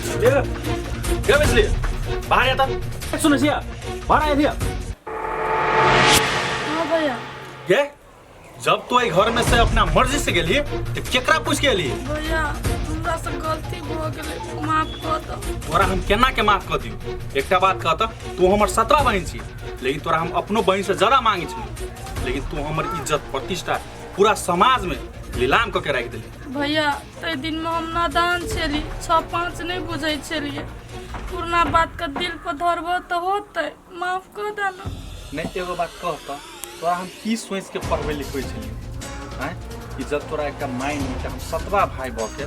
क्या बचली बाहर आता सुनो सिया बाहर आया सिया हाँ भैया ये जब तू एक घर में से अपना मर्जी से गेली तो केकरा पूछ के लिए भैया हमरा से गलती हो गेलै माफ कऽ दऽ तोरा हम केना के माफ कर दियो एकटा बात कहता तू हमर सत्रह बहन छी लेकिन तोरा हम अपनो बहन से ज्यादा मांगे छी लेकिन तू हमर इज्जत प्रतिष्ठा पूरा समाज में नीलाम कऽ के राखि देली भैया ताहि दिनमे हम नादान छली छओ पाँच नहि बुझै छलियै पुरना बातके दिल पर धरबह तऽ होतै माफ कऽ दऽ ने नहि एगो बात कह तऽ तोरा हम की सोचि के पढ़बै लिखबै छलियै आँय कि जब तोरा एकटा माय नहि तऽ हम सतवा भाय भऽ के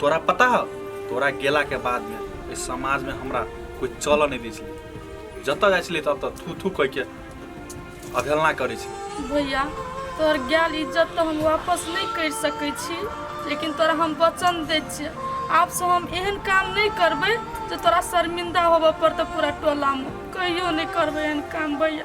तोरा पता हो तोरा गेला के बाद में इस समाज में हमरा कोई चलऽ नहीं दी छलै जतऽ जाइ छलै ततऽ थू थू कहि के अवहेलना करै छलै भैया तोहर गैल इज्जत तो हम वापस नहीं कर सके छी लेकिन तोरा हम वचन दे छियै आप से हम एहन काम नहीं करबे जो तोरा शर्मिंदा होबऽ पड़तौ पूरा टोला में कहियो नहीं करबे एहन काम भैया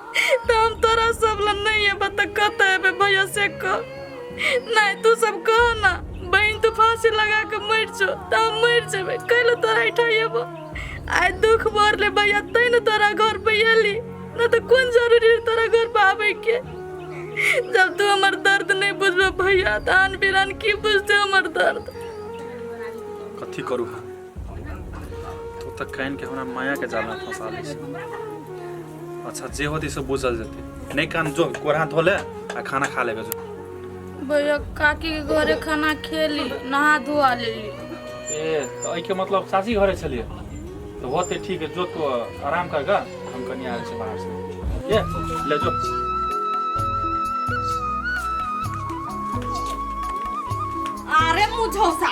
तऽ हम तोरा सब लए नहि एबै तऽ कतऽ एबै भैया से कह नहि तू सब कह ना बहन तू फांसी लगा के मर जो तऽ हम मर जेबै कैले तोरा ऐठा एबो आइ दुख बोर ले भैया तै ने तोरा घर पे एली ना तऽ कोन जरूरी है तोरा घर पे आबै के जब तू हमर दर्द नहीं बुझबे भैया तऽ आन बिरान की बुझते हमर दर्द कथी करू हम तू तऽ कान के हमरा माया के जाल में फंसा ले छी अच्छा जे होती से बुझल जेते नहीं कान जो कोरा धो ले आ खाना खा लेबे जो भैया काकी के घरे खाना खेली नहा धोआ लेली ए तो एहि के मतलब सासी घरे छलिए तो होते ठीक है जो तू आराम कर गा हम कनी आयल छी बाहर से ये ले जो अरे मुझौसा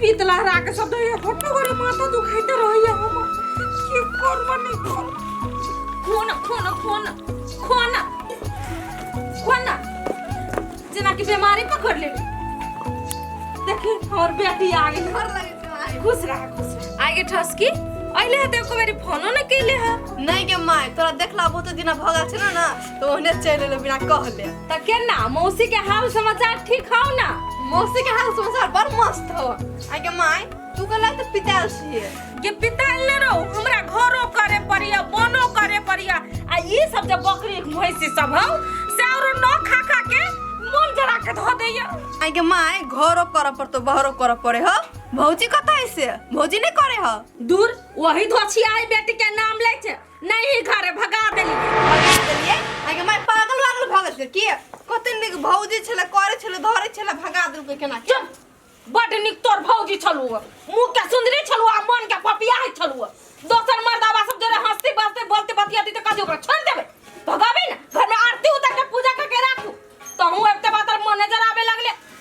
पीत लहरा के सब दे घटो करे माथा दुखाइते रहैया हम की करब नहीं करब phone phone phone phone phone जेना कि बीमारी पकड़ ले देखी हमर बेटी आ गई घर लगे तुम्हारे खुश रह खुश रह आगे ठस की अइले हते एको बेरी फोनो न कइले ह नहीं के माय तोरा देखला बहुत दिन भगल छै ना तो ओहने चल एलो बिना कहले त केना मौसी के हाल समाचार ठीक हौ ना मौसी के हाल समाचार बड़ मस्त हो आगे माय तू कहला तो पिताल छिए के पिताल ले रहो हमरा घरो करे पड़िया बनो करे पड़िया आ ई सब जे बकरी भैंसी सब हौ से और न खा खा के मन जरा के धो दैया आगे माय घरो कर पर तो बहरो कर पड़े हो भौजी कत है से भौजी नहीं करे हो दूर वही धोछी आई बेटी के नाम ले छे नहीं ही घरे भगा देली भगा देलिए आगे मैं पागल वागल भऽ गेल के कते नीक भौजी छले करे छले धरे छले भगा देल के केना के चुप बड निक तोर भौजी छलु मुंह के सुंदरी छलु आ मन के पपिया है छलु दोसर मर्दावा सब जरे हंसते बसते बोलते बतियाती त कथि ओकरा छोड़ देबे भगाबी ना घर में आरती उतार के पूजा करके राखू तहू अब ते बात मैनेजर आवे लगले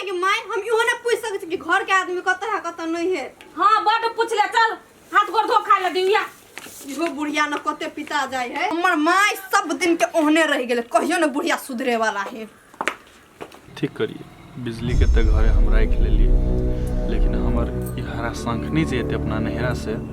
आगे माय हम इहो ना पूछ सकत छी कि घर के आदमी कतऽ है कतऽ नहीं है हाँ बट पूछ ले चल हाथ गोड़ धो खा ले दिया इहो बुढ़िया न कते पिता जाय है हमर माय सब दिन के ओहने रह गेले कहियो न बुढ़िया सुधरे वाला है ठीक करिए बिजली के तऽ घरे हमरा एक लेलिए लेकिन हमर ई हरा शंखनी जे एते अपना नहरा से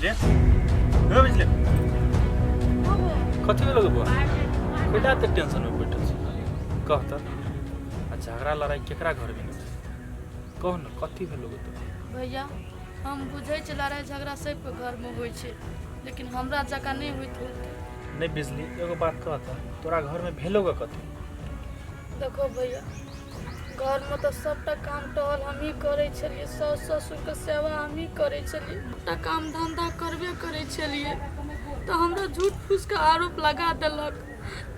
Bizlet. Yo bizlet. कथी लगे बा कोई बात के टेंशन में बैठल छी कह त आ झगड़ा लड़ाई केकरा घर में होतै? कह न कथी भेल लोग तो भैया हम बुझै छी लड़ाइ झगड़ा सबके घरमे होइ छै लेकिन हमरा जकाँ नहि होइत होतै नहीं बिजली एगो बात कह त तोरा घर में भेलो ग कथी देखो भैया घरमे तऽ सभटा काम टहल हमही करै छलियै साउस ससुरके सेवा हमही करै छलियै सभटा काम धन्धा करबे करै छलियै तऽ हमरा झूठ फूसके आरोप लगा देलक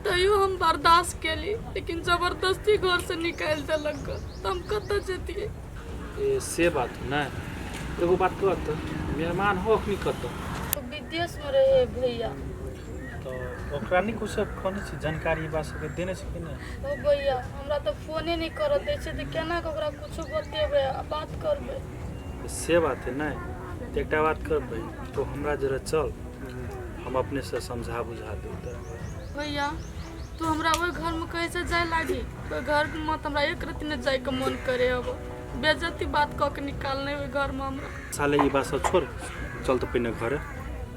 तैयो हम बर्दाश्त केली लेकिन जबरदस्ती घरसँ निकालि देलक ग तऽ हम कतऽ जैतियै ए, से बात है नहि एगो बात कहत मेहमान हो अखनी कतऽ विदेशमे रहै भैया तऽ ओकरा नहि किछु कहने छी जानकारी हमरा सबके देने छी कि नहि ओ भैया हमरा तऽ फोने नहि करऽ दै छै तऽ केना कऽ ओकरा किछो बतेबै आ बात करबै तऽ से बात है नहि तऽ एकटा बात करबै तो हमरा जरा चल हम अपने से समझा बुझा देब तोरा। भैया तू हमरा ओहि घरमे कैसे जाय लागी ओहि घरमे तऽ हमरा एक रत्ती नहि जायके मोन करे अब बेजती बात कऽ के निकालने ओहि घरमे हमरा साले ई बात सब छोड़ चल तऽ पहिने घरे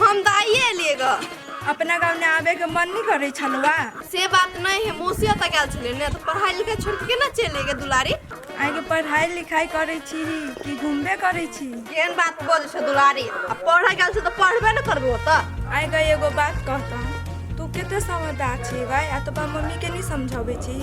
हम तऽ आइए एलियै ग अपना गाँव ने आबे के मन नहि करै छलौआ से बात नहि है मौसी ओतऽ गेल छलै ने तऽ पढ़ाई लिखाई छोड़ के केना चलि एलियै दुलारी आइ के पढ़ाई लिखाई करै छी कि घूमबे करै छी केहन बात बजै छै दुलारी आ पढ़ऽ गेल छै तऽ पढ़बे ने करबो ओतऽ आइ के एगो बात कहता तू कते समझदार छी भाई आ तो मम्मी के नहीं समझावे छी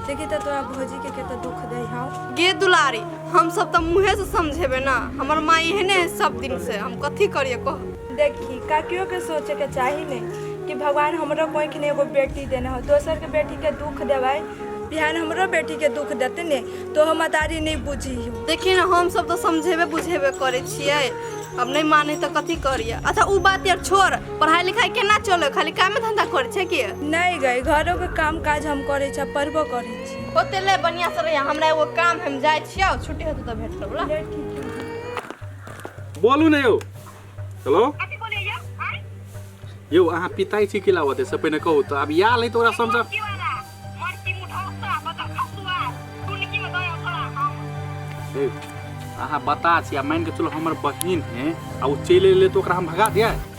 से कि तो तोरा भौजी के कते दुख दे हौ गे दुलारी हमसभ तऽ मुँहेसँ समझेबै ने हमर माँ एहने है सब दिनसँ हम कथी करियै कह देखी काकियोके सोचैके चाही ने कि भगवान हमरो कोइखने एगो बेटी देने हो दोसरके बेटीके दुःख देबै बिहान हमरो बेटीके दुःख देतै ने तो हम अदारी नहि बुझी देखिए ने हमसभ तऽ समझेबे बुझेबे करै छियै अब नहि मानै तऽ कथी करियै अच्छा ओ बात यार छोड़ पढ़ाइ लिखाइ केना चलै खाली कामे धन्धा करै छै कि नहि गए घरोके काम काज हम करै छी पढ़बो करै छी होते ले बढ़िया से रहिए हमरा एगो काम है, हम जाए छियो छुट्टी होते तो भेंट करब ला बोलू ने यौ हेलो कथी बोले यौ आय यौ अहाँ पिताई छी कि लावत से पहिने कहू तऽ आब इएह लै तऽ ओकरा समझ की वाला मर्ची मुठौसा बता खसुआ टुनकी में दया थोड़ा हम हे, अहाँ बता छी आ मानि कऽ चलू हमर बहिन है आ ओ चलि एलै तऽ ओकरा हम भगा दियै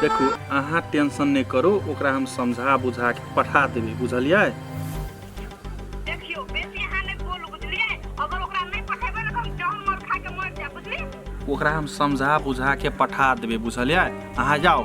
देखू अहाँ टेंशन नहीं करू ओकरा हम समझा बुझा के पठा देबी बुझलिए देखियो बेसी अहाँ नहीं बोलू बुझलिए अगर ओकरा नहीं पठेबे ना तो हम जहर मर खा के मर जाए बुझली ओकरा हम समझा बुझा के पठा देबे बुझलिए अहाँ जाओ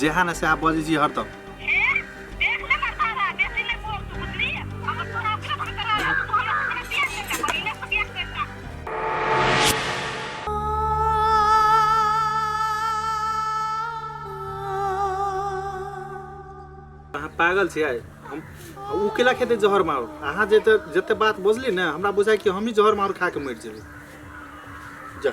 जेहा ने सएह बजै छी हरदम अहाँ पागल छियै हम ओ केला खेतै जहर मारू अहाँ जे जते बात बजली ने हमरा बुझाइ कि हमही जहर मारू खा कऽ मरि जेबै जा